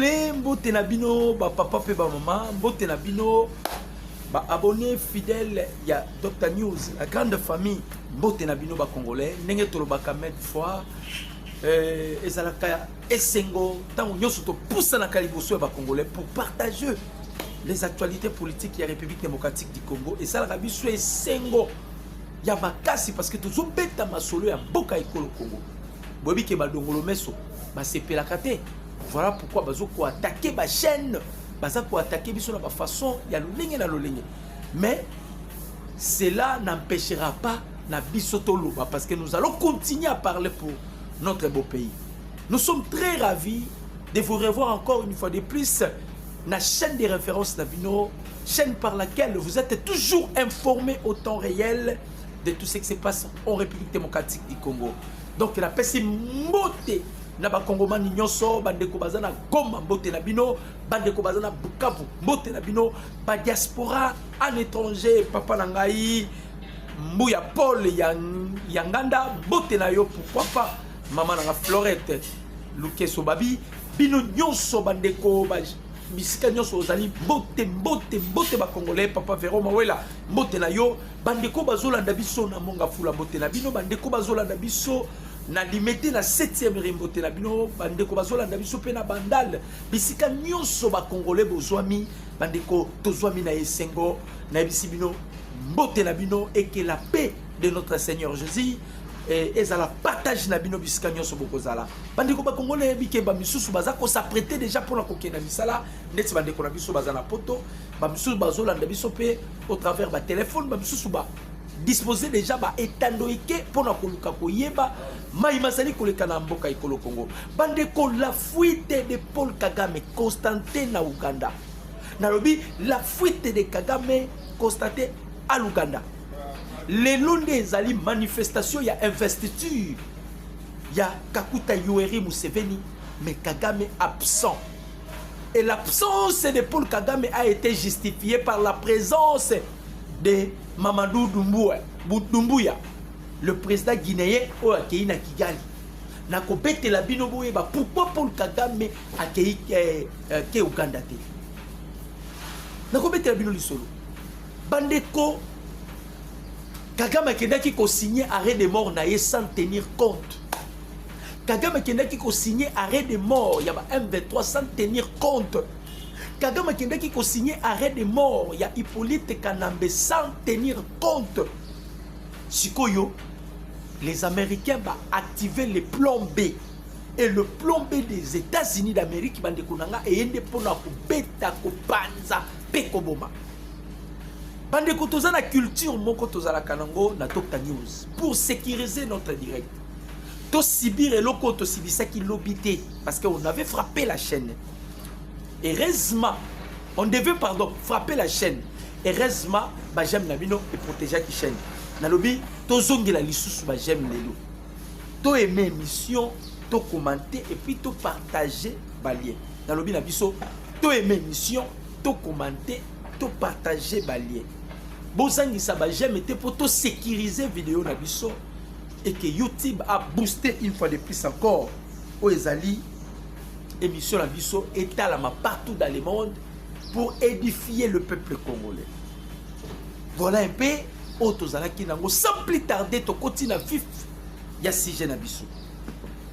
Mpe mbote na bino ba papa mpe ba mama, mbote na bino ba abonne fidèle ya Dr News, la grande famille. Mbote na bino ba Congolais, ndenge tolobaka mille fois euh, ezalaka esengo ntango nyonso topusanaka liboso ya ba Congolais pour partager les actualités politiques ya République démocratique du Congo. Esalaka biso esengo ya makasi parce que tozobeta masolo ya mboka ekolo Congo. Boyebi ke badongolo meso basepelaka te Voilà pourquoi bazo ko attaquer ba chaîne, baza ko attaquer biso na ba façon ya lolenge na lolenge. Mais cela n'empêchera pas na biso toloba parce que nous allons continuer à parler pour notre beau pays. Nous sommes très ravis de vous revoir encore une fois de plus na chaîne de référence na bino, chaîne par laquelle vous êtes toujours informés au temps réel de tout ce qui se passe en République démocratique du Congo. donc napesi mbote na bakongomani nyonso bandeko baza na goma mbote na bino bandeko baza na bukavu mbote na bino badiaspora en étranger papa na ngai mbuya paul ya, ya nganda mbote na yo pourquoi pas mama na nga florete lukeso babi bino nyonso bandeko ba bisika nyonso ozali mbote mbote mbote bakongolais papa vero mawela mbote na yo Bandeko bazolanda biso na monga fula mbote na bino, bandeko bazolanda biso na limete na 7e ri mbote na bino, bandeko bazolanda biso mpe na bandal bisika nyonso bakongole bozwami, bandeko tozwami na esengo, nayebisi bino mbote na bino eke la paix de notre Seigneur Jésus eh, ezala partage na bino bisika nyonso bokozala bandeko bakongole yebi ke bamisusu baza kosaprete deja mpona kokenda misala ndeti bandeko na biso baza na poto bamisusu bazolanda biso mpe au travers ba téléphone ba misusu ba disposer déjà ba etando eke pona koluka koyeba mai mazali koleka na mboka ekolo Congo bande ko la fuite de Paul Kagame constaté na Ouganda nalobi la fuite de Kagame constaté à l'Ouganda lelo nde ezali manifestation ya investiture ya Kakuta Yoweri Museveni mais Kagame absent Et l'absence de Paul Kagame a été justifiée par la présence de Mamadou Doumbouya, Doumbouya le président guinéen oyo akei na Kigali na kobetela bino boyeba pourquoi Paul Kagame akei eh, eh, ke Uganda te na kobetela bino lisolo bandeko Kagame akendaki ko signer arrêt de mort na ye sans tenir compte Kagame akendaki ko signer arrêt de mort ya ba M23 sans tenir compte. Kagame akendaki ko signer arrêt de mort ya Hippolyte Kanambe sans tenir compte. Sikoyo les Américains ba activer les plans B et le plan B des États-Unis d'Amérique bande konanga et ende pona ko beta ko panza pe ko boma. Bande ko tozana culture moko tozala kanango na Tokta News pour sécuriser notre direct. To subir eloko to sibisaki lobi te parce que on avait frappé la chaîne. Heureusement, on devait pardon frapper la chaîne. Heureusement, ba j'aime na bino et protéger qui chaîne. Na lobi to zongela lisusu ba j'aime lelo. To aimer émission, to commenter et puis to partager ba lien. Na lobi na biso to aimer émission, to commenter, to partager ba lien. Bozangisa ba j'aime te pour to sécuriser vidéo na biso. et que YouTube a boosté une fois de plus encore oyo ezali émission na biso etalama partout dans le monde pour édifier le peuple congolais voilà un peu oyo tozalaki nango sans plus tarder tokoti na vif ya sujet na biso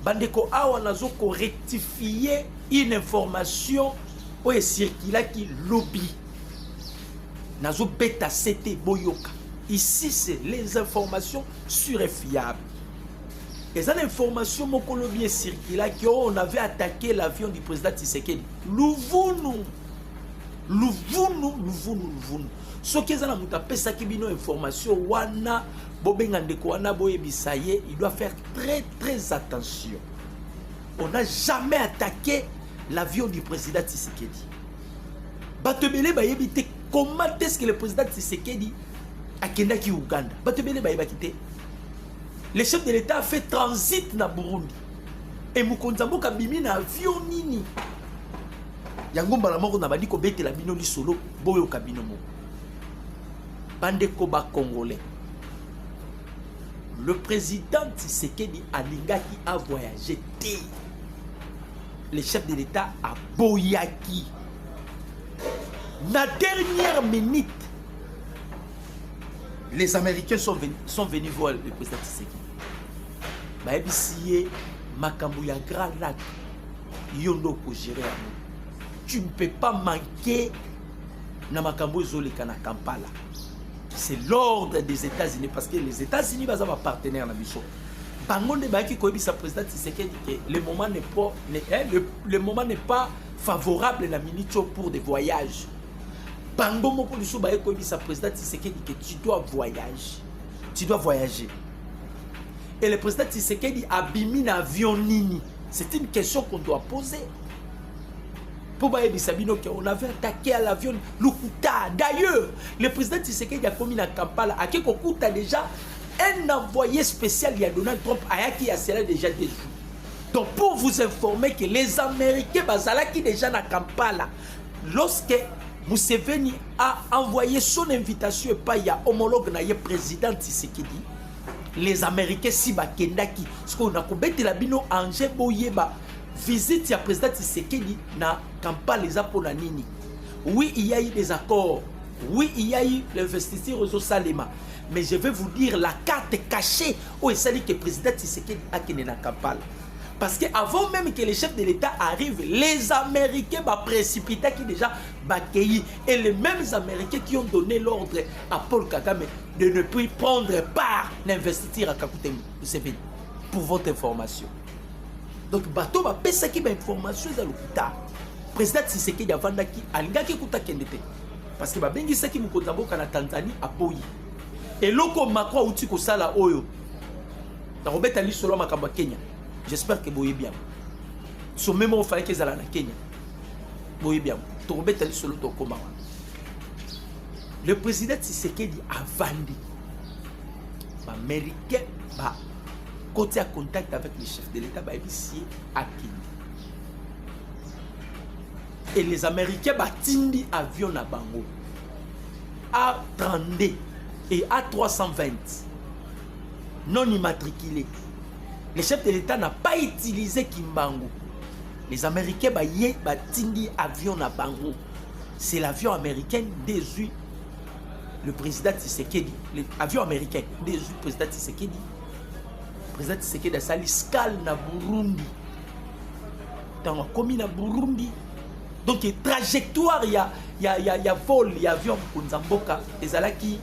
bandeko awa nazo korectifie une information oyo esirkilaki lobi nazobeta sete boyoka ici c'est les informations sur et fiable eza na information moko lobi ecirculaki oh, on avait attaqué l'avion du président tisekedi luvunu luvunu luvunu luvunu soki eza na moto apesaki bino information wana bobenga ndeko wana boyebisa ye il doit faire très très attention on n'a jamais attaqué l'avion du président tisekedi bato ebele bayebi te comment est ce que le président tisekedi akendaki Ouganda bato ebele bayebaki te le chef de l'état a fait transit na Burundi et mokonzi ya mboka abimi na avion nini yango mbala moko nabandi kobetela bino lisolo boyoka bino moko bandeko bacongolais le président tshisekedi alingaki avoyage te le chef de l'état aboyaki na dernière minute les américains sont venus, sont venus voir le président Tshisekedi bayebisi ye makambo ya grand lac yo nde okogere yango tu ne peux pas manquer na makambo ezoleka na kampala c'est l'ordre des états-unis parce que les états-unis baza bapartenaire na biso bango nde bayaki koyebisa président tisekedi ke le moment n'est pas, eh, le, le moment n'est pas favorable na minute pour des voyages bango moko lisusu baye koyebisa président tisekedi ke tu dois voyage tu dois voyager et le président tisekedi abimi na avion nini c'est une question qu'on doit poser mpo bayebisa bino ke on avait attaqué à l'avion lokuta d'ailleurs le président tisekedi akomi na kampala ake kokuta déjà un envoyé spécial ya donald trump ayaki ya cela déjà des jours donc pour vous informer que les américains bazalaki déjà na kampala Lorsque Museveni a envoyé son invitation epai ya homologue na ye président Tshisekedi, les Américains si bakendaki sikoyo na kobetela bino ange boyeba visite ya président Tshisekedi na Kampala eza mpo na nini? Oui, il y a eu des accords. Oui, il y a eu l'investiture aux Salema. Mais je vais vous dire la carte cachée où est-ce que le président Tshisekedi a quitté la Kampala. Parce que avant même que le chef de l'État arrive, les Américains bah, précipita qui déjà Bakeyi et les mêmes Américains qui ont donné l'ordre à Paul Kagame de ne plus prendre part d'investir à Kakute Museveni. Pour votre information. Donc bateau va pesa qui information dans le Président Tshisekedi avandaki alingaki kuta kende te parce que babengisaki mokonzi ya mboka na Tanzanie aboyi eloko Macron auti kosala oyo nakobeta lisolo ya makambo ya kenya j'espère ke boyebi yango sommet moko falaki ezala na kenya boyebi yango tokobeta lisolo tokoma wana le président tshisekedi avandi baaméricain bakoti ya contact avec le chef de l'état bayebisi ye akende et les américains batindi avion na bango a 32 et a 320 non immatriculé. Le chef de l'État n'a pas utilisé Kimbangu. Les Américains baye batindi avion na bango. C'est l'avion américain désuit le président Tshisekedi. L'avion américain désuit le président Tshisekedi. Le président Tshisekedi a sali scale na Burundi. Tango akomi na Burundi. Donc trajectoire ya ya ya, ya vol ya avion Kunzamboka ezalaki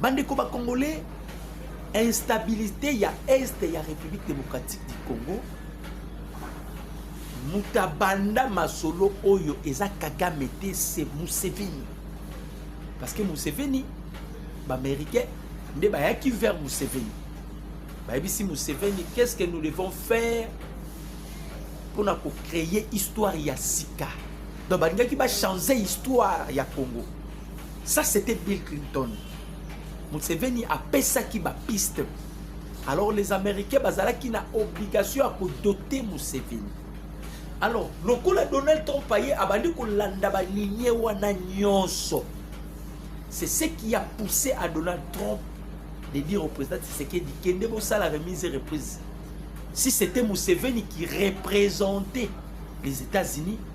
Bandeko ba Congolais, instabilité ya Est ya République démocratique du Congo moto abanda masolo oyo eza Kagame te se Museveni parce que Museveni baaméricain nde bayaki vers Museveni bayebisi Museveni qu'est-ce que nous devons faire mpona kocréer histoire ya sika donc balingaki bachange histoire ya Congo Ça c'était Bill Clinton. Museveni apesaki ba piste. Alors les Américains bazalaki na obligation ya kodote Museveni. Alors lokola Donald Trump aye abandi kolanda balinie wana nyonso. C'est ce qui a poussé à Donald Trump de dire au président Tshisekedi kende bosala remise et reprise. Si c'était Museveni qui représentait les États-Unis,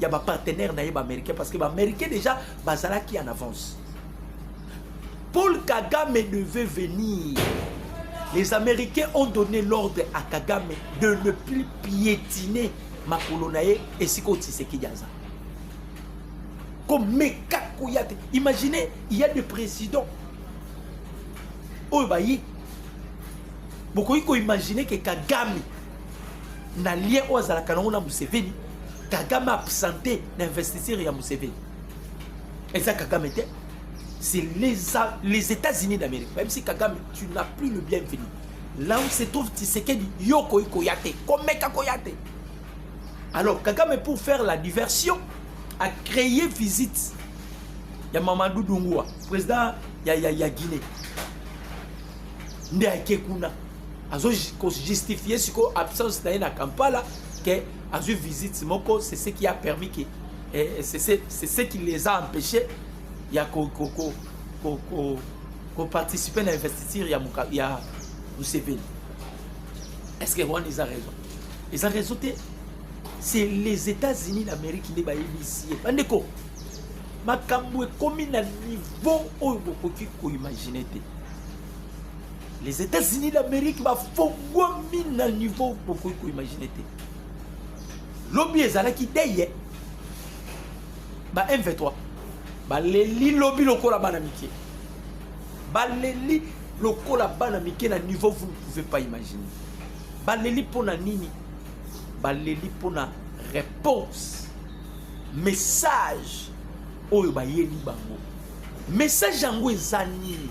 ya ba partenaire na ye ba américain parce que ba américain déjà bazalaki en avance paul kagame devait venir les américains ont donné l'ordre à kagame de ne plus piétiner makolo na ye esika otisekedi aza komeka koya te imaginez il y a des présidents oyo baye bokoki koimagine ke kagame na lien oyo azalaka nango na museveni kagame absente na investiture ya museveni eza kagame te c'est les, les états-unis d'amérique même si kagame tu n'as plus le bienvenu là où se trouve tisekedi yo okoki koya te komeka koya te alors kagame pour faire la diversion a créé visite ya mamadou dungua président ya, ya, ya guinée nde ake kuna azo ko justifier siko absence na ye na Kampala que azwi visite moko c'est ce qui a permis que eh, c'est ce qui les a empêchés ya ko ko ko ko, ko, ko participer na investiture ya muka, ya Museveni est-ce que Rwanda ils a raison ils a raison te c'est les États-Unis d'Amérique nde bayebisi ye bandeko makambo ekomi na niveau oyo bokoki koimagine te les Etats-Unis d'Amérique bafongwami na niveau bokoki koimagine te lobi ezalaki deye ba M23 baleli lobi lokola bana mike baleli lokola bana mike na niveau vous ne pouvez pas imaginer baleli mpo na nini baleli mpo na réponse message oyo bayeli bango message yango eza nini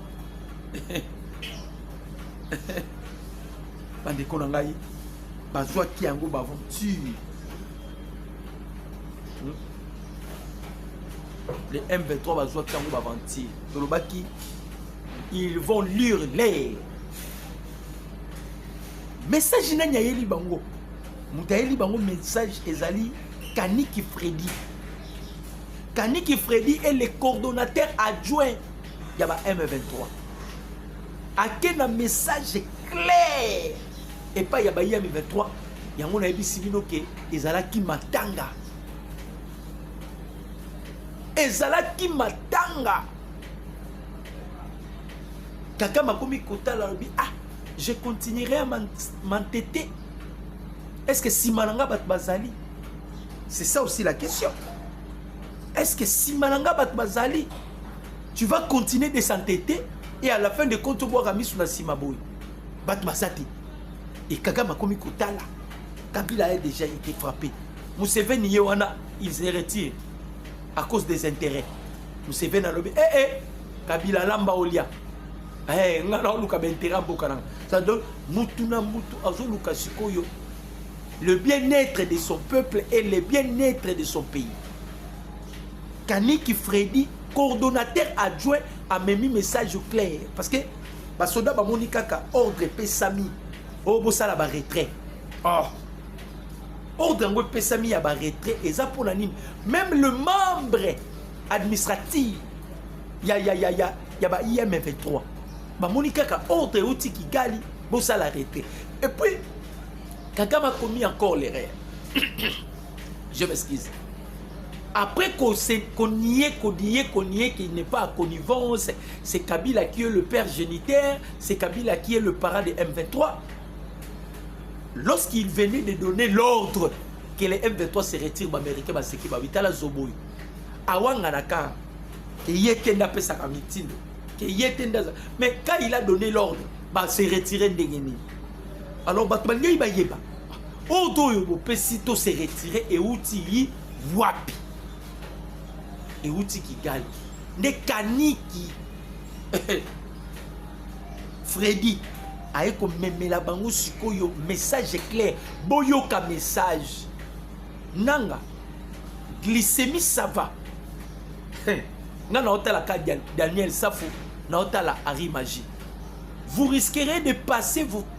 bandeko na ngai bazwaki yango baventure hmm? le m23 bazwaki yango baventure tolobaki ils vont lire l'air message nani ayeli bango moto ayeli bango message ezali kaniki fredi kaniki fredi est le coordonnateur adjoint ya ba M23 ake na message clair epai ya bayi ya M23 yango nayebisi bino ke ezalaki matanga ezalaki matanga kaka makomi kotala alobi ah je continuerai à m'entêter est ce que nsima na nga bato bazali c'est ça aussi la question est ce que nsima na nga bato bazali tu vas continuer de s'entêter et à la fin de compte obwaka misu na sima boye bato baza te et kagame akomi kotala kabila a déjà été frappé museveni ye wana il se retire à cause des intérêts museveni alobi ee eh, eh, kabila alamba olia hey, eh, nga naoluka baintérêt mboka nanga ça donne mutu na mutu azoluka sikoyo le bien-être de son peuple et le bien-être de son pays Kaniki Freddy, coordonnateur adjoint, amemi message clair. Parce que basoda bamoni kaka ordre epesami oyo oh, bosala baretrait. Oh. Ordre yango epesami ya baretrait eza mpo na nini? Même le membre administratif ya ya ya ya ya ba IM 23 bamoni kaka ordre euti Kigali bosala retrait. Et puis Kagame akomi encore l'erreur. je m'excuse après qu'on qu nie qu'on nie qu'on nie qu'il n'est pas à connivence c'est Kabila qui est le père géniteur c'est Kabila qui est le parent de M23 lorsqu'il venait de donner l'ordre que les M23 se retirent baméricain baseki babitala zoboyi awanganaka ke ye te nde apesaka mitindo ke ye te nde mais quand il a donné l'ordre base retire ndenge nini alors bato balingi bayeba Ordre oyo bopesi to se retirer euti yi wapi? Euti Kigali. Nde kaniki Freddy aye komemela bango sikoyo message clair boyoka message nanga glycémie ça va nga naotala ka daniel safo naotala harry magie vous risquerez de passer vos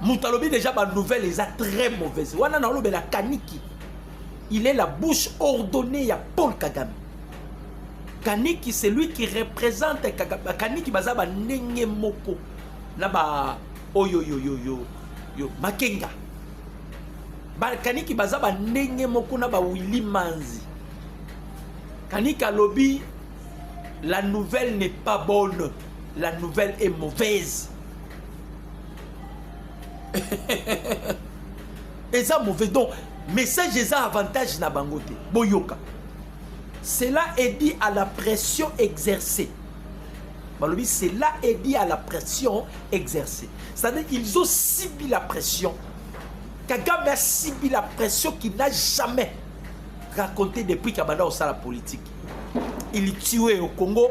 moto alobi deja banouvelle eza très mauvaise wana na olobela kaniki il est la bouche ordonnée ya paul kagame kaniki c'est lui qui représente kagame kaniki baza bandenge moko na ba oyoyoyoyo yo makenga bakaniki baza bandenge moko na bawili manzi kaniki alobi la nouvelle n'est pas bonne la nouvelle est mauvaise eza mauvais donc message eza avantage na bango te boyoka cela est dit à la pression exercée balobi cela est dit à la pression exercée c'est-à-dire ils ont subi la pression kagame a subi la pression qui n'a jamais raconté depuis kabanda osala politique il tuait au congo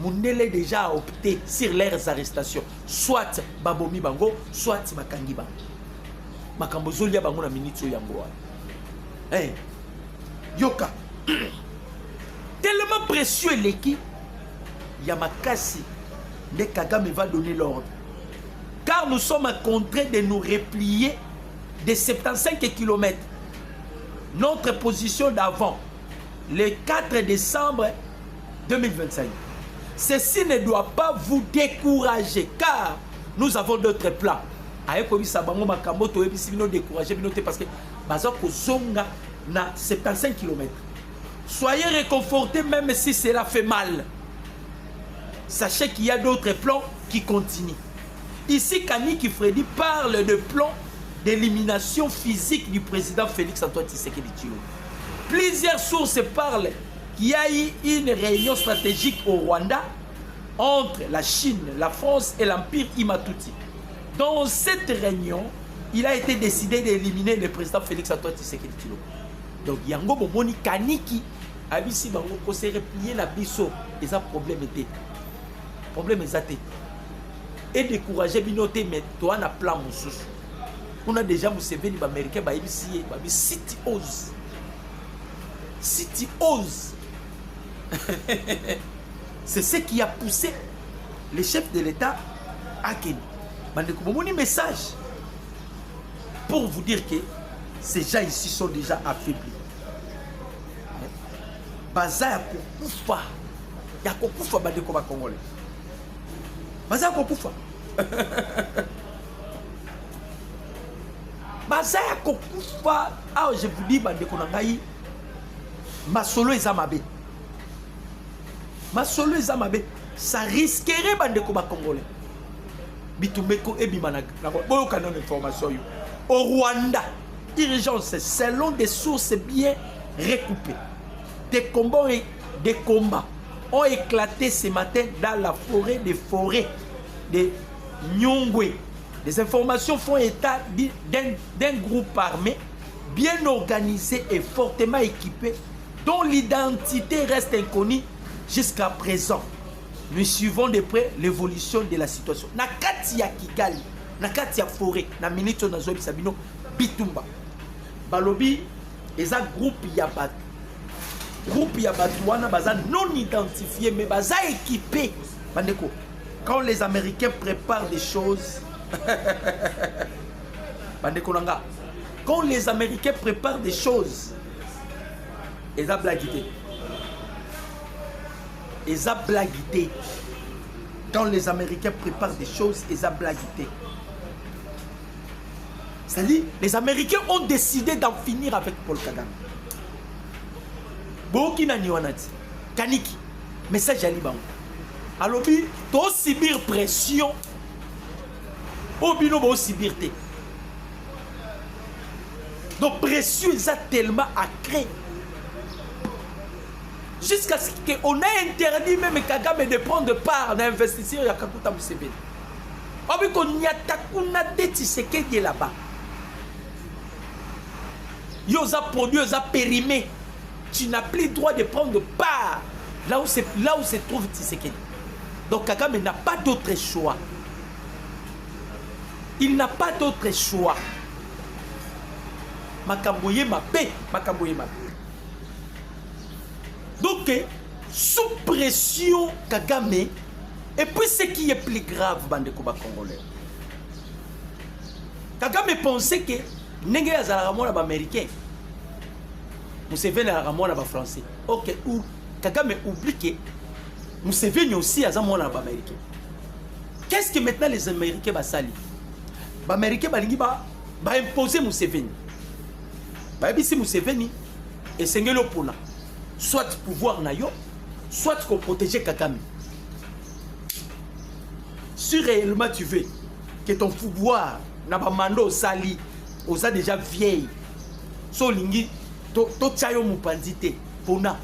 mundele déjà a opté sur leurs arrestations soit babomi bango soit bakangi bango makambo ezolia bango na minute oyo yango wana hey. Eh, yoka tellement précieux eleki ya makasi nde kagame va donner l'ordre car nous sommes contraints de nous replier de 75 km notre position d'avant le 4 décembre 2025. Ceci ne doit pas vous décourager car nous avons d'autres plans. aye koyebisa bango makambo toyebisi bino décourage bino te parce que baza kozonga na 75 km soyez réconforté même si cela fait mal sachez qu'il y a d'autres plans qui continuent ici kaniki fredi parle de plan d'élimination physique du président félix antoine tshisekedi tshilombo plusieurs sources parlent Qu'il y a eu une réunion stratégique au Rwanda entre la Chine, la France et l'Empire Imatuti. Dans cette réunion, il a été décidé d'éliminer le président Félix Antoine Tshisekedi Tshilombo. Donc yango bomoni kaniki abisi bango ko se replier na biso eza problème te. Problème eza te. Et décourager bino te mais toi na plan mususu. On a déjà Museveni ba américain ba ibisi ba bi city ose. si tu oses c'est ce qui a poussé le chef de l'état akende bandeko bomoni message pour vous dire que ces gens ici sont déjà affaiblis baza ya kokufa ya kokufa bandeko bakongole baza ya kokufa baza ya kokufa awa je vous dis bandeko na ngai masolo eza mabe masolo eza mabe ça risquerait bandeko bakongolais bitumbeko ebima boyoka nano information oyo au rwanda urgence selon des sources bien recoupées des combats, des combats ont éclaté ce matin dans la forêt des forêts des Nyungwe. Les informations font état d'un groupe armé bien organisé et fortement équipé dont l'identité reste inconnue jusqu'à présent. Nous suivons de près l'évolution de la situation. Na kati ya Kigali, na kati ya forêt, na minute oyo nazoyebisa bino bitumba. Balobi eza groupe ya bato. Groupe ya bato wana baza non identifié mais baza équipé bandeko quand les américains préparent des choses bandeko na nga quand les américains préparent des choses eza blagi te eza blagi te quand les américains préparent des choses eza blagi te c'est-à-dire les américains ont décidé d'en finir avec paul kagame boyoki nani wana ti kaniki message ya libango alobi to subir pression oyo bino bo subir te donc pression eza tellement acré jusqu'à ce qu'on a interdit même Kagame de prendre part na investisseur ya Kakuta Museveni obi konyata kuna te Tshisekedi là-bas yo oza produit oza périmé Tu n'as plus droit de prendre part là où se, là où se trouve Tshisekedi. Donc Kagame n'a pas d'autre choix. Il n'a pas d'autre choix. Makambo ye mabe, makambo ye mabe. Donc eh, sous pression Kagame et puis ce qui est plus grave bande koba congolais. Kagame pensait que ndenge azalaka mwana ba américain Museveni azalaka mwana ba français. Ok, ou Kagame oublie que Museveni aussi aza mwana ba américain. Qu'est-ce que maintenant les américains basali? Ba américain balingi ba ba imposer Museveni. Bayebisi Museveni esengeli opona soit pouvoir na yo soit qu'on protéger Kagame. Si réellement tu veux que ton pouvoir na ba mando sali oza deja vieille so olingi totya yo mopanzi te pona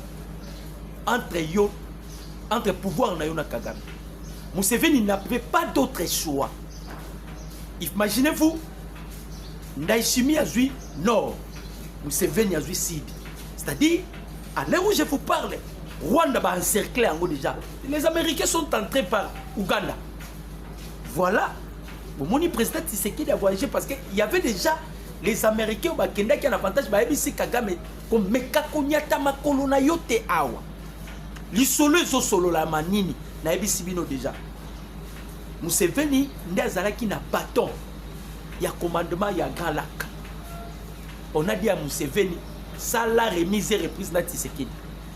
entre yo entre pouvoir na yo na kagame museveni n'avait pas d'autre choix imaginez vous ndaishimi azwi nord museveni azwi sud c'est-à-dire à l'heure où je vous parle rwanda baencercle yango déjà les américains sont entrés par ouganda voilà bomoni président tisekedi a voyagé parce que y avait déjà les américains bakendaki ya na avantage bayebisi kagame komeka konyata makolo na yo te awa lisolo ezosololama nini nayebisi bino deja museveni nde azalaki na baton ya commandement ya grand lac on a dit ya museveni sala remise et reprise na tisekedi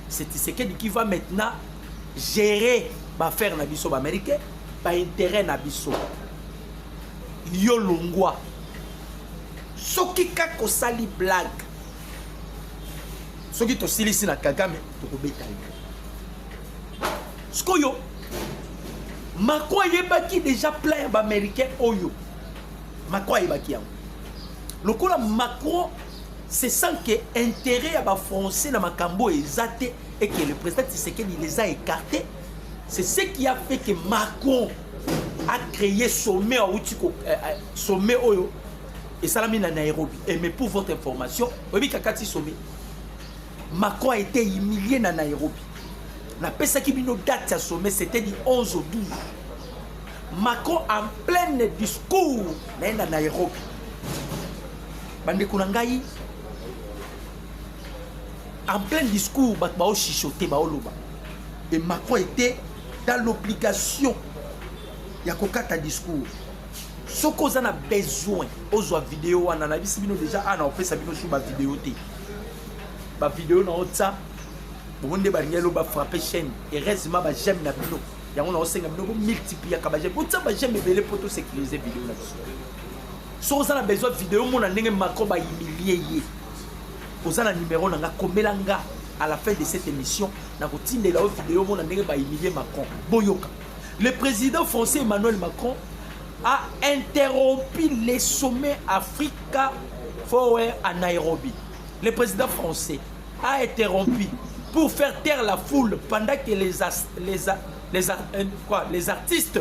C'est Tshisekedi qui va maintenant gérer baffaire na biso baaméricain baintérêt na biso yo longwa soki kaka osali blague soki tosilisi na kagame tokobeta yo sikoyo mako ayebaki deja plan ya baaméricain oyo mako ayebaki yango lokola macron C'est sans que intérêt ya ba français na makambo eza te et que le président Tshisekedi les a écartés. C'est ce qui a fait que Macron a créé sommet à Outiko, euh, euh, sommet Oyo, et Salami na Nairobi. Et mais pour votre information, Obi Kakati sommet. Macron a été humilié na Nairobi. Na pesa qui bino date ya sommet, c'était du 11 au 12. Macron en plein discours na Nairobi. bandeko na ngai en plein discours bato baoshisote baoloba e macron ete dans l'obligation ya kokata discours soki oza na besoin ozwa video wana nayebisi bino deja ana opesa bino su bavideo te bavideo na otya bongo nde balingi elo bafrappe chaîne heureusement bajame na bino yango naosenga bino bomultipliaka bajame otya bajame ebele mpo tosécurise video na biso soki oza na besoin video mona ndenge macron ba humilie ye oza na numero na nga komela nga à la fin de cette émission nakotindela yo video mona ndenge ba humilie macron boyoka le président français emmanuel macron a interrompu les sommets africa forward à nairobi le président français a interrompu pour faire taire la foule pendant que les, as, les, a, les, a, euh, quoi, les artistes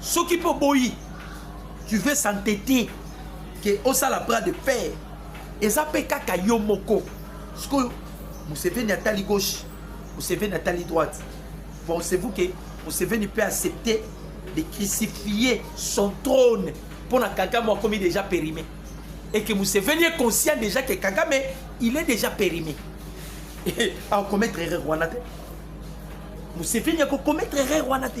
soki mpo boyi tu veux s'entêter ke osala bras de fer eza mpe kaka yo moko sikoyo museveni atali gauche museveni atali droite pensez-vous ke museveni mpe accepter de crucifier son trône mpo na kagame akomi déjà périmé et que museveni est conscient déjà que kagame il est déjà périmé akomettre erreur wana te museveni akokomettre erreur wana te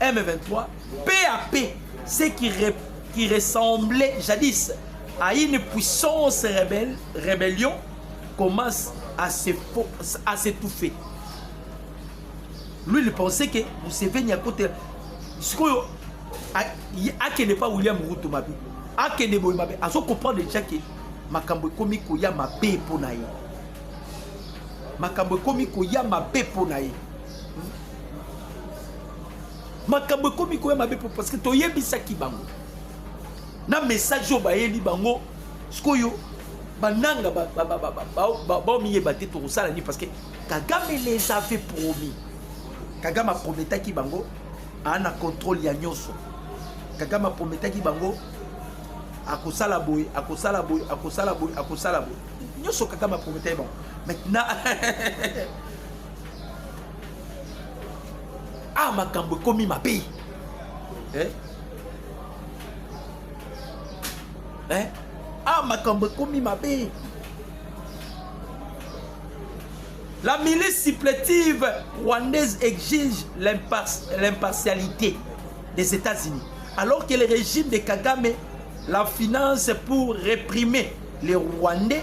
M23, peu à peu, ce qui, qui ressemblait jadis à une puissance rebelle, rébellion, commence à s'étouffer. Lui, il pensait que Museveni à côté. Ce que akende pas William Ruto mabe. Akende boy mabe. Azo comprendre déjà que makambo ekomi koya mabe mpo na ye. Makambo ekomi koya mabe mpo na ye. makambo ekomi koya mabe mpo parce que toyebisaki bango na message oyo bayeli bango sikoyo bananga baomiyeba te tokosala nini parce que kagame les avait promis kagame aprometaki bango aa na contrôle ya nyonso kagame aprometaki bango akosala boye akosala boye akosala boye akosala boye nyonso kagame aprometaki bango maintenant ah makambo ekomi mabe eh? Eh? ah makambo ekomi mabe la milice supplétive rwandaise exige l'impartialité des États-Unis alors que le régime de Kagame la finance pour réprimer les Rwandais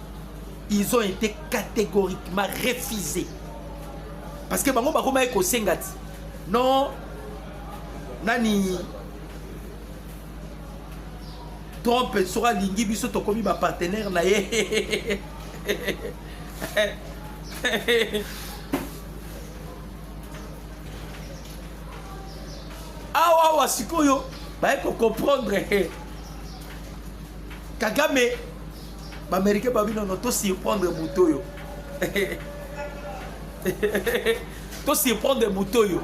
ils ont été catégoriquement refusés parce que bango bakomaki kosenga ti non nani trump soki alingi biso tokomi bapartenaire na ye awa awa sikoyo baye kocomprendre kagame Bamericain babi nono to surprendre moto oyo to surprendre moto oyo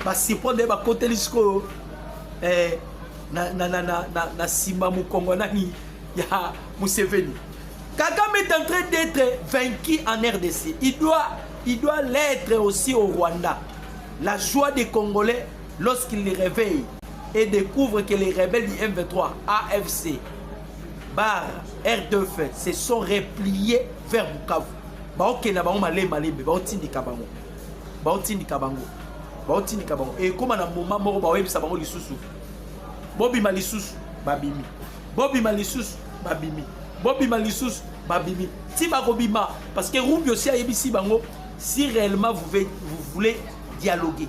basurprendre ye bakoteli sikoyo eh, na, na, na, na, na, na nsima mokongo nani ya Museveni. Kagame est en train d'être vaincu en RDC. Il doit, il doit l'être aussi au Rwanda. La joie des Congolais lorsqu'ils les réveillent et découvrent que les rebelles du M23, AFC, bar rdf se sont repliés vers bukavu baokenda bango malembe malembe baotindika bango baotindika bango baotindika bango ekóma na moma moko baoyebisa bango lisusu bobima lisusu babimi bobima lisusu babimi bobima lisusu babimi ti bakobima parce que rubio si ayebisi bango si réellement vous, vous voulez dialoguer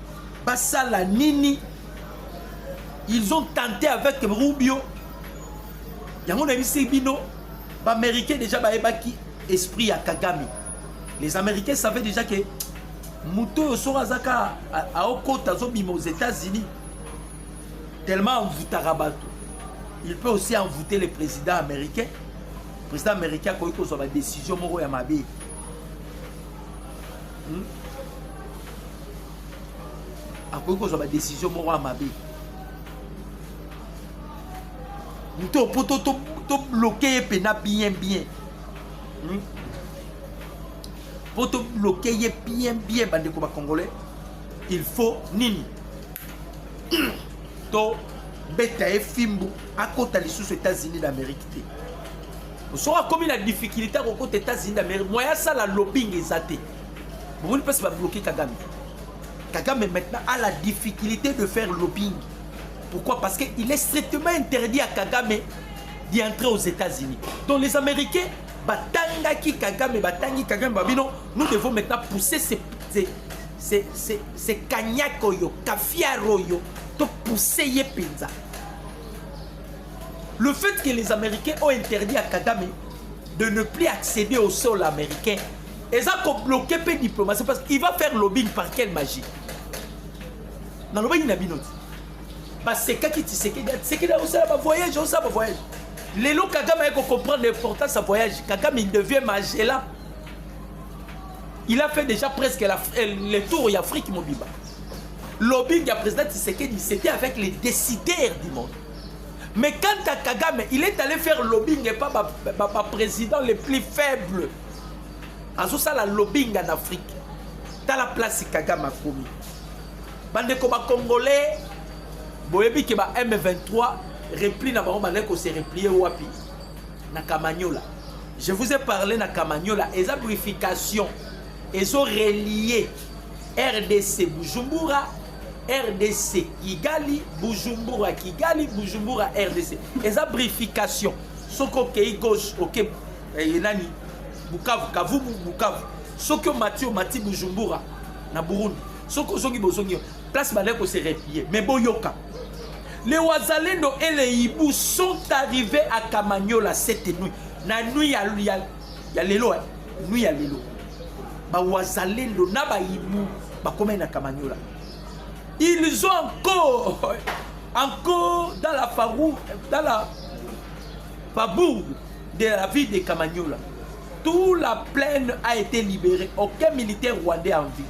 basala nini ils ont tenté avec rubio yango nayebisi bino baaméricain déjà bayebaki esprit ya kagame les américains savaient déjà que moto oyo soko aza kaka aokota azobima aux états-unis tellement envoutaka bato il peut aussi envoûter le président américain président américain akoki kozwa badécision moko ya mabe hmm? akoki kozwa badesizio moko ya mabe moto mpo tobloke ye mpena bien bien hmm? mpo tobloke ye bien bien bandeko bacongolais il faut nini tobeta ye fimbu akota lisusu états-unis d'amérique te soki akomi na difficulté akokota états-unis d'amérique moya asala lobing eza te bomoni mpasi babloke kagame kagame maintenant a la difficulté de faire lobbying pourquoi parce que il est strictement interdit à kagame d'y entrer aux états unis donc les américains batangaki kagame batangi kagame babino nous devons maintenant pousser ces, ces, ces, ces, ces cagnac oyo cafiar oyo topousse ye mpenza le fait que les américains ont interdit à kagame de ne plus accéder au sol américain eza ko bloquer pe diplomatie parce qu'il va faire lobbying par quelle magie nalobaki na bino ti basekaki tisekedi tisekedi aosala bavoyage aosala bavoyage lelo kagame aye kocomprendre l'importance ya voyage kagame il devient magela il a fait déjà presque la, euh, le tour ya afrique mobimba lobbying ya président tisekedi c'était avec les décideurs du monde mais quant à kagame il est allé faire lobbying epa baprésident ba, ba les plus faibles azosala lobbying en afrique tala place kagame akomi bandeko bacongolais boyebi ke ba m23 repli na bango bandaki kose replie wapi na kamanyola je vous ai parlé na kamanyola eza purification ezo relie rdc bujumbura rdc kigali bujumbura kigali bujumbura rdc eza brification soki okei gauche oke okay. eye eh, nani bukavu kavubu bukavu soki omati omati bujumbura na burundi soki ozongi bozongi place bandaki kose replie mais boyoka les wazalendo et les hibou sont arrivés à kamanyola cette nuit na nuit ya, ya, ya lelo eh? nuit ya lelo bawazalendo na bahibu bakomai na kamanyola ils ont encore encore dans la farou dans la fabourg de la ville de Kamanyola, toute la plaine a été libérée. Aucun militaire rwandais en vie.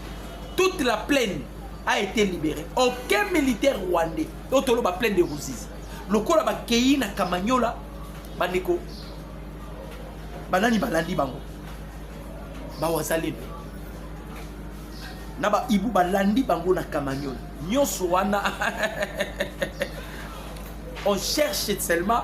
Toute la plaine a été libérée. Aucun militaire rwandais. Otolo ba plaine de Ruzizi. Lokola ba keyi na Kamanyola, bandeko banani balandi bango bawazalendo na baibu balandi bango na kamanyola nyonso wana on cherche seulement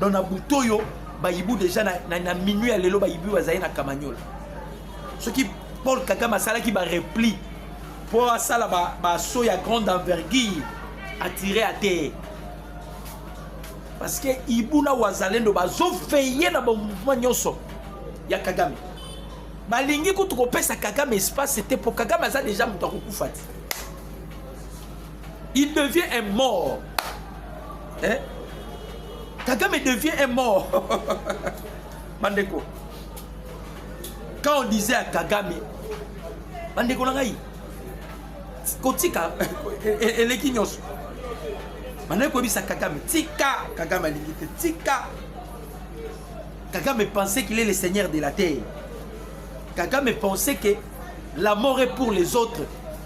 donc na butu oyo bayibu deja na, na, na minui ya lelo bayibu bazali na kamanyola soki paul kagame asalaki barepli mpo asala baso ba ya grande envergure atire ya te parce que ibu na wazalendo bazoveye na bamouvement nyonso ya kagame balingi kutu kopesa kagame espace te mpo kagame aza deja moto akokufa te il devient un mort eh? kagame devient un mort bandeko quand on disait à kagame bandeko na ngai kotika e, e, eleki nyonso bandeko koyebisa kagame tika kagame alingi te tika kagame pensait qu'il est le seigneur de la terre kagame pensait que la mort est pour les autres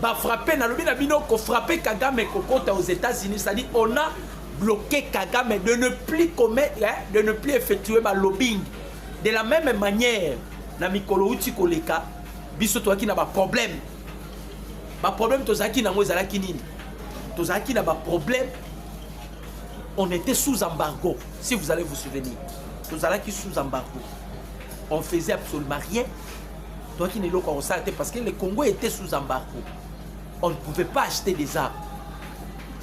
ba frappe nalobi na bino ko frappe kagame kokota aux états-unis c'est-à-dire on a bloqué kagame de ne plus commettre hein, de ne plus effectuer ba lobbying de la même manière na mikolo uti koleka biso toyaki na baproblème baproblème tozalaki nango ezalaki nini tozalaki na baproblème on était sous embargo si vous allez vous souvenir tozalaki sous embargo on faisait absolument rien toyaki na eloko ya kosala te parce que le congo était sous embargo on ne pouvait pas acheter des armes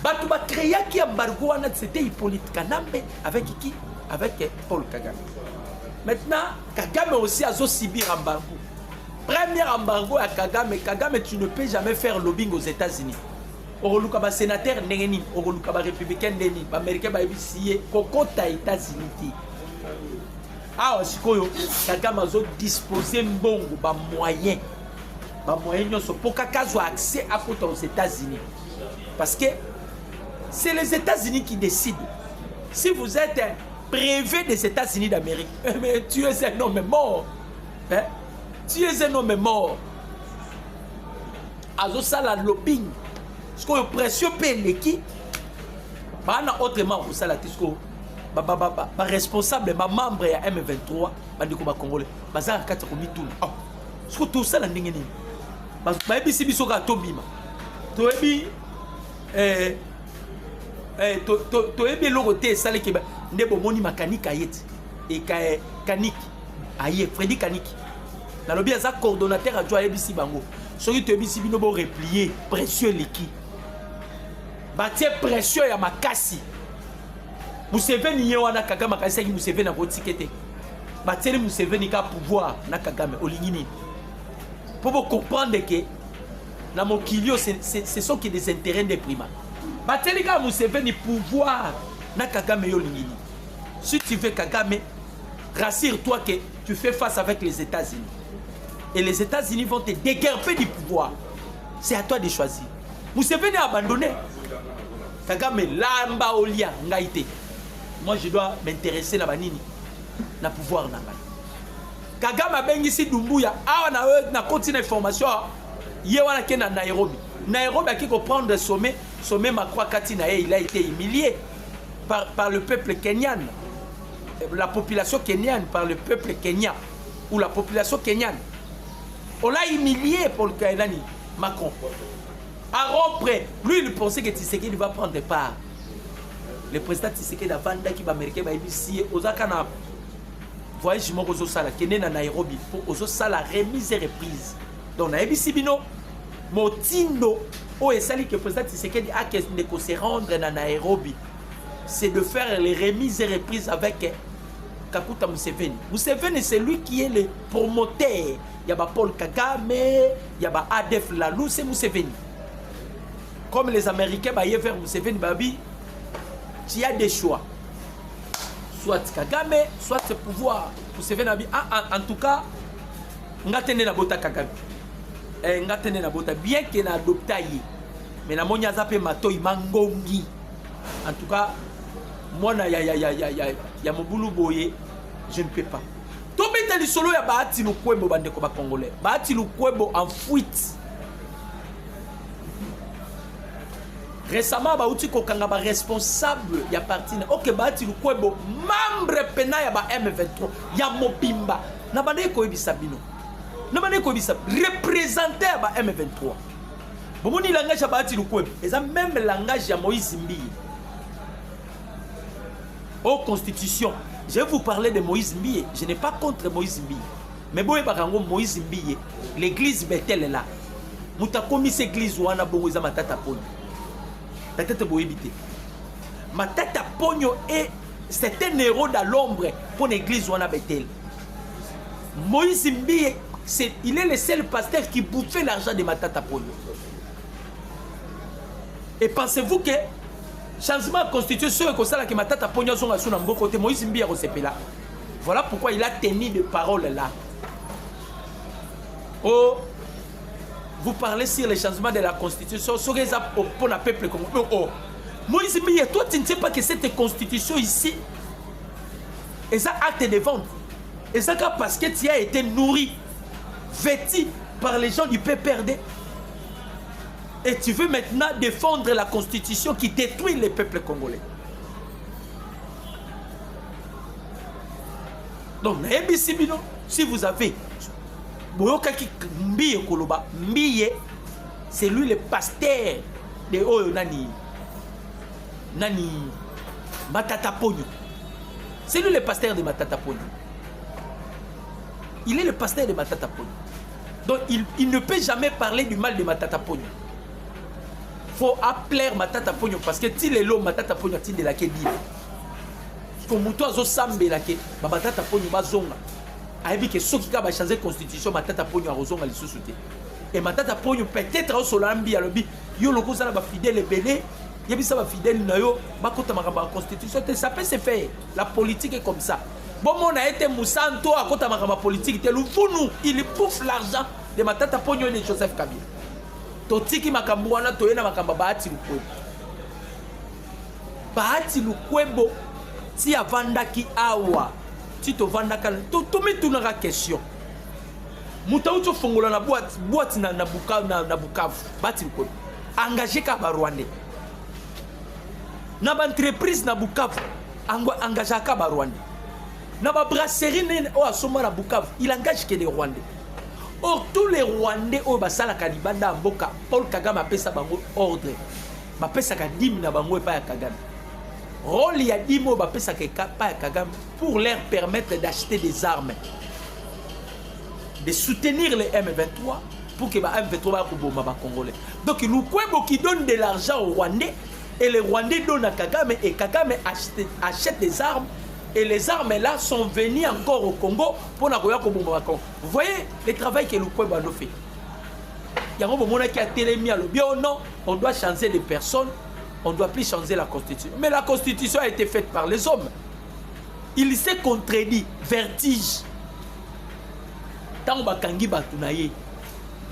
bato bacreaki embargo wana c'était hippolyte kanambe avec qui avec paul kagame maintenant kagame aussi azosibir embargo premier embargo ya kagame kagame tu ne peux jamais faire lobbying aux états-unis okoluka basénateur ndenge nini okoluka barépublicain ndenge nini baaméricain bayebisi ye kokota états-unis te awa sikoyo kagame azo dispose mbongo bamoyen bamoyen nyonso mpo kaka azwa accès akota aux états-unis parce que c'est les états-unis qui décident si vous êtes un privé des états-unis d'amérique eh, mais tu es un homme mort hein? tu es un homme mort azosala lobing sikoyo pression mpe eleki bana autrement akosala te sikoyo baresponsable bamembre ya m23 bandeko bacongolais baza na kati ya komituna ah, soki tosala ndenge nini bayebisi biso kaka tobima toyebi eh, eh, toyebi eloko te esaleki nde bomoni makanike aye te ekaye kaniki aye fredi kaniki nalobi aza coordonnateur ajo ayebisi bango soki toyebisi bino boreplie pression eleki batie pression ya makasi museveni ye wana kagame akanisaki museveni akotike te batieli museveni ka pouvoir na kagame olingi nini mpo bocomprendre ke na mokili oyo ce sont ke des intérêts nde prima batieli kaka museveni pouvoir na kagame yo olingi nini si tu veux kagame rassure toi ke tu fais face avec les états unis et les états unis vont te déguerper du pouvoir c'est à toi de choisir museveni a abandonné Kagame lamba olia ngai te. Moi je dois m'intéresser na banini na pouvoir na ngai. Kagame abengisi Dumbuya awa na na koti na information ye wana ke na Nairobi. Nairobi aki ko prendre sommet sommet Macron kati na ye il a été humilié par, par le peuple kenyan la population kenyane par le peuple kenyan ou la population kenyane on l'a humilié pour le Kainani Macron à rompre lui il pensait que Tshisekedi va prendre part le président Tshisekedi avandaki baaméricain bayebisi ye ozaka na voyage moko ozosala kende na nairobi mpo ozosala remise et reprise donc nayebisi bino motindo oyo esali que président Tshisekedi akende ko se rendre na nairobi c'est de faire les remises et reprises avec Kakuta Museveni. Museveni, c'est lui qui est le promoteur ya ba Paul Kagame, ya ba ADF Lalu, c'est Museveni. Comme les Américains baye vers Museveni babi, tu as des choix. Soit Kagame, soit ce pouvoir. Museveni babi, ah, ah, en tout cas, nga tende na bota Kagame. Eh, nga tende na bota, bien que na adopta ye. Mais na moni aza pe matoi mangongi. En tout cas, mwana ya, ya, ya, ya, ya, ya mobulu boye, je ne peux pas. Tobeta lisolo ya Bahati Lukwebo bandeko ba Congolais. Bahati Lukwebo en fuite. Récemment bauti kokanga ba responsable ya parti na OK Bahati Lukwebo membre pena ya ba M23 ya mobimba na bandeki koyebisa bino. Na bandeki koyebisa représentant ya ba M23. Bomoni langage ya Bahati Lukwebo eza même langage ya Moïse Mbiye. au constitution je vous parler de moïse mbiye je n'ai pas contre moïse mbiye mais boyebaka yango moïse mbiye l'église betele la moto akomisi église wana bongo eza matata ponyo peut-être boyebi te matata ponyo e c'est un héros da l'ombre mpo na église wana betele moïse mbiye il est le seul pasteur qui bouffait l'argent de matata ponyo Et pensez-vous que changement ya constitution ekosala ke matata mpongi azonga lisusu na mboko te moïse mbiya kosepela voilà pourquoi il a tenu de parole là o oh, vous parlez sur le changement de la constitution soki eza mpo na peuple congo o oh, oh. moïse mbiya toi tu ne sais pas que cette constitution ici eza acte de vente eza kaka parce que tu as été nourri vêti par les gens du pprd Et tu veux maintenant défendre la constitution qui détruit les peuples congolais. Donc, nayebisi bino, si vous avez boyokaki mbiye koloba mbiye c'est lui le pasteur de oyo nani nani matata pogno c'est lui le pasteur de matata pogno il est le pasteur de matata pogno Donc il, il ne peut jamais parler du mal de Matata Pogno. Faut appeler Matata Pogno parce que ti lelo Matata Pogno a tindela ke bible. Ko mutu azo sambela ke ba Matata Pogno bazonga. Ayebi ke soki ka ba changer constitution Matata Pogno akozonga lisusu te. Et Matata Pogno peut-être au solambi alobi yo loko zala ba fidèle ebele yebisa ba fidèle na yo bakota makambo ya constitution te ça peut se faire. La politique est comme ça. bomona ye te mosantu oyo akota makambo ya politiki te luvunu il bouffe l'argent de matata ponio de joseph kabila totiki makambo wana toye na makambo ya bahati lukwebo bahati lukwebo ti avandaki awa ti tovandaka tomitunaka to question moto auti ofongola na bwati bwati na, na, buka, na, na bukavu bahati lukwebo engage kaka barwandais na baentreprise na bukavu Ango engagea ka ba Rwandais. Na ba brasserie nene oyo asomba na Bukavu, il engage que des Rwandais. Or tous les Rwandais oyo basalaka libanda ya mboka, Paul Kagame apesa bango ordre. Bapesaka dime na bango epai ya Kagame. Rôle ya dime oyo bapesaka epai ya Kagame pour leur permettre d'acheter des armes. De soutenir les M23 pour que ba M23 ba koboma ba Congolais. Donc Lukwebo qui donne de l'argent aux Rwandais Et les Rwandais donnent à Kagame et Kagame achète, achète des armes et les armes là sont venues encore au Congo pour na koya kobomba Congo. Vous voyez le travail que Lukwe Bando fait. Yango bomona ki atelemi alobi oh non, on doit changer les personnes, on doit plus changer la constitution. Mais la constitution a été faite par les hommes. Il s'est contredit, vertige. Tango bakangi batu na ye.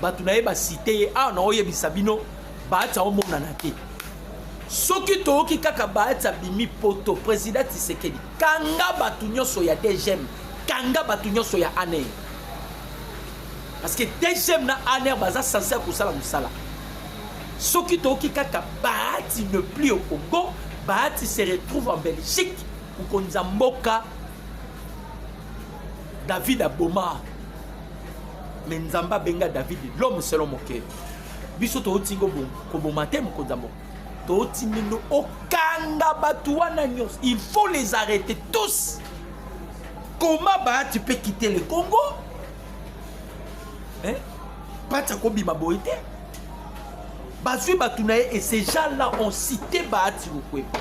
Batu na ye ba cité ah na oyebisa bino Bahatsa omonana te. Soki toyoki kaka Bahatsa bimi poto président Tshisekedi kanga bato nyonso ya DGM kanga bato nyonso ya ANR. Parce que DGM na ANR baza censé kosala mosala. Soki toyoki kaka Bahatsi ne plus au Congo, Bahatsi se retrouve en Belgique kukonza mboka David aboma me Nzambe abenga David l'homme selon mon cœur. biso touti koboma te mokonzi ya mboka touti mino okanga bato wana nyonso il faut les arrêter tous comment ba tu peux quitter le congo hein? pati akobima boye te bazwi bato na ye et ces gens là ont cité baati bokweba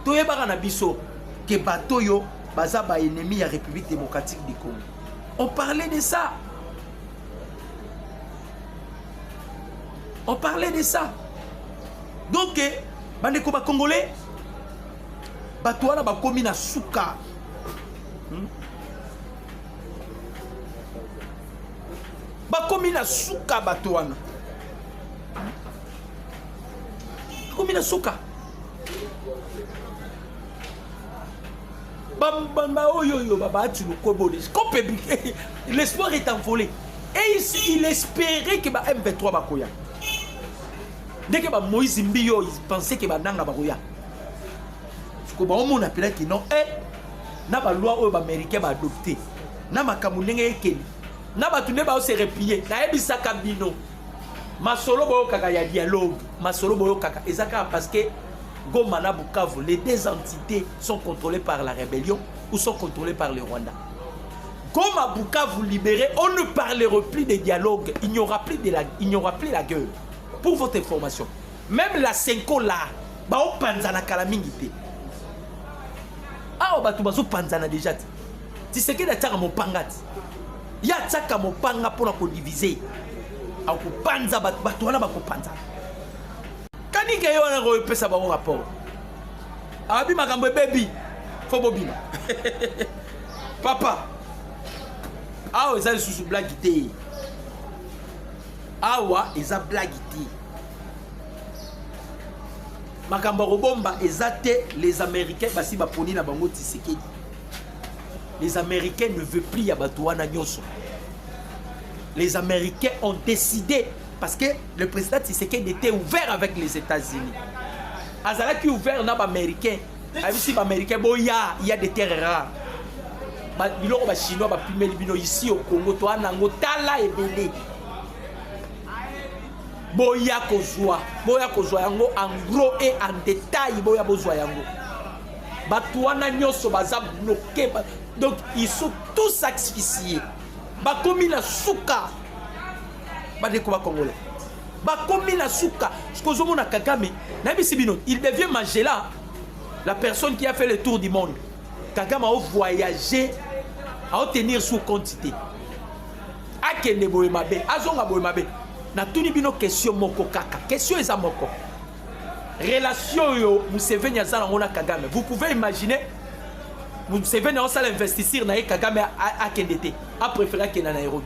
toyebaka na biso ke bato oyo baza baennemi ya république démocratique du congo on parlait de ça On parlait de ça. Donc, eh, bandeko ba congolais, bato wana bakomi na suka. Hmm? Bakomi na suka bato wana. Bakomi na suka. bambamba oyo oyo babati lokobole cope eh, l'espoir est envolé et ici il espérait que ba m23 bakoya ndeke ba moïse mbiyo il pensait que bananga bakoya siko baomona mpela kino e eh, na baloi oyo baaméricain baadopte na makambo ndenge ekeli na bato nde baose replie nayebisaka bino masolo boyokaka ya dialogue masolo boyokaka eza kaka parce que Goma na Bukavu, les deux entités sont contrôlées par la rébellion ou sont contrôlées par le Rwanda. Goma, Bukavu libéré, on ne parlera plus de dialogue, il n'y aura plus de la, il n'y aura plus la gueule. Pour votre information, même la Senko là, ba o panzana kala mingi te. Awa bato bazo panzana déjà te. Tshisekedi atiaka mopanga te. Ye atiaka mopanga mpo na kodivize. Akopanza bato, bato wana bakopanzana. kanike yo wana kopesa bango rapport ababi makambo ebebi fo bobima papa awa eza lisusu blagi te awa eza blagi te makambo ya kobomba eza te les américains basi baponi na bango tisekedi les américains ne veut plus ya bato wana nyonso les américains ont décidé parce que le président Tshisekedi était ouvert avec les États-Unis azalaki ouvert na baaméricain ayebisi baaméricain boya ya de terre rare biloko bachinois bapimeli bino isi au congo toa nango tala ebele boya kozwa boya kozwa yango en gros et en détail boya bozwa yango bato wana nyonso baza bloke ba... donc ils sont tous asphyxiés bakomi na suka badeko ba congolais bakomi na suka soki ozomona kagame nayebisi bino il devient magela la personne qui a fait le tour du monde kagame aovoyage aotenir sous quantité akende boye mabe azonga boye mabe natuni bino question moko kaka question eza moko relation oyo museveni aza nango na kagame vous pouvez imaginer museveni aosala investiture na ye kagame akende te apréféré akenda nairobi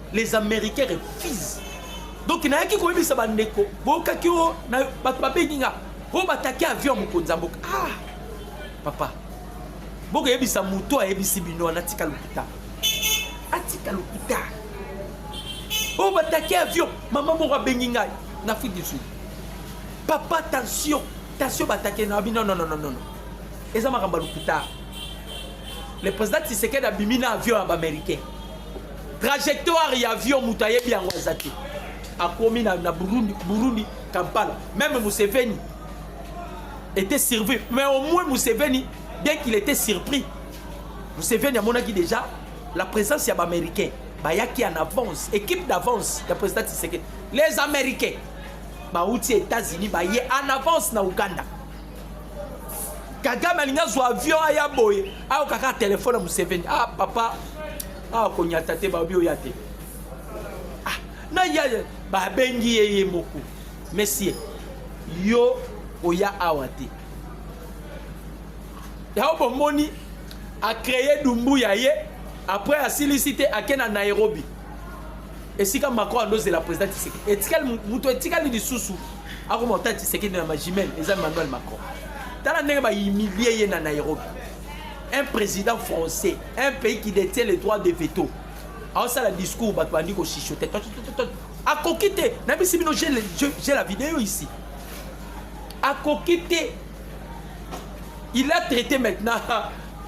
les américains refusent donc nayaki koyebisa bandeko boyokaki o na bato babengi nga oyo bataki avion ya mokonzi ya mboka ah papa bokoyebisa moto ayebisi bino wana atika lokuta atika lokuta oyo bataki avion mama moko abengi ngai na afrique du sud papa tension tension bataki na bino nonononono eza makambo ya lokuta le président tisekedi abimi na avion ya baaméricain trajectoire ya avion moto ayebi yango aza te akomi na, na burundi, burundi kampala meme museveni était surpris mais au moins museveni bien qu'il était surpris museveni amonaki déjà la présence ya baaméricain bayaki en avance équipe d'avance ya président tshisekedi les américains bauti états-unis baye en avance na uganda kagame alingi azwa avion aya boye ayoka kaka telefone ya museveni ah papa awa konyata te baobi oya te ah, na ya babengi ye ye moko mesie yo oya awa te yango bomoni acreye dumbu ya ye après asilisi te ake na nairobi esika macron andozela président tiseke etikali moto etikali lisusu akoma ota tisekedi na magimel eza emmanuel macron tala ndenge bahumilie ye na nairobi un président français un pays qui détient le droit de veto aosala discours bato bandi koshishote akoki te nabisi bino j'ai la vidéo ici akoki te il a traité maintenant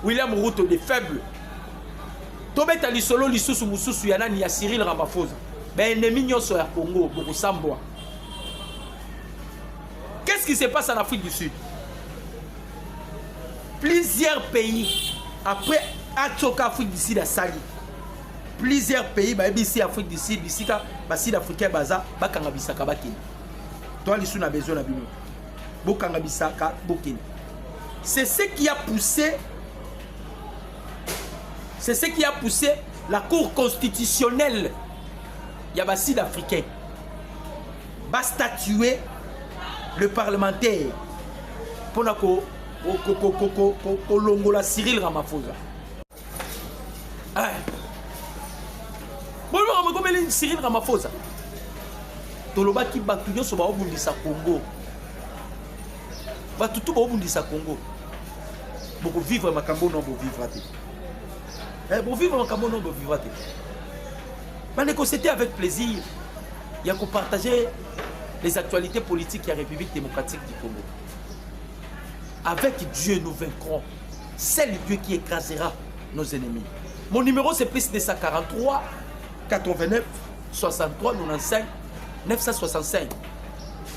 william ruto de faible tobeta lisolo lisusu mosusu ya nani ya cyril ramaphosa baennemi nyonso ya congo bokosambwa qu'est-ce qui se passe en afrique du sud plusieurs pays après atsoka afrique du sud asali plusieurs pays bayebisi afrique du sud bisika basud africain baza bakanga bisaka bakende toi lisu na besoin na bino bokanga bisaka bokende c'est ce qui a poussé C'est ce qui a poussé la Cour constitutionnelle ya ba sud africain ba statuer le parlementaire mpo na kolongola cyril ramaphosa boyebaka mokomeli cyril ramaphosa tolobaki bato nyonso baobundisa congo bato tu bobundisa congo bokovivre makambo no bovivra te eh, bovivre makambo no bovivra te bandeko c'était avec plaisir ya kopartager les actualités politiques ya république démocratique du congo avec dieu nous vaincrons seul dieu qui écrasera nos ennemis mon numéro c'est plus 243 89 63 95 965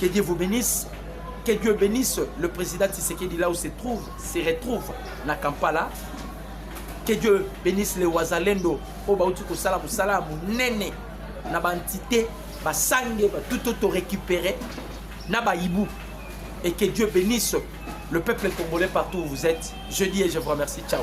Que Dieu vous bénisse. Que Dieu bénisse le président Tshisekedi là où se trouve, se retrouve na Kampala. Que Dieu bénisse les Wazalendo au bauti kosala musala munene na ba entité ba sangue ba tout auto récupérer na ba hibou et que Dieu bénisse le peuple congolais partout où vous êtes. Je dis et je vous remercie. Ciao.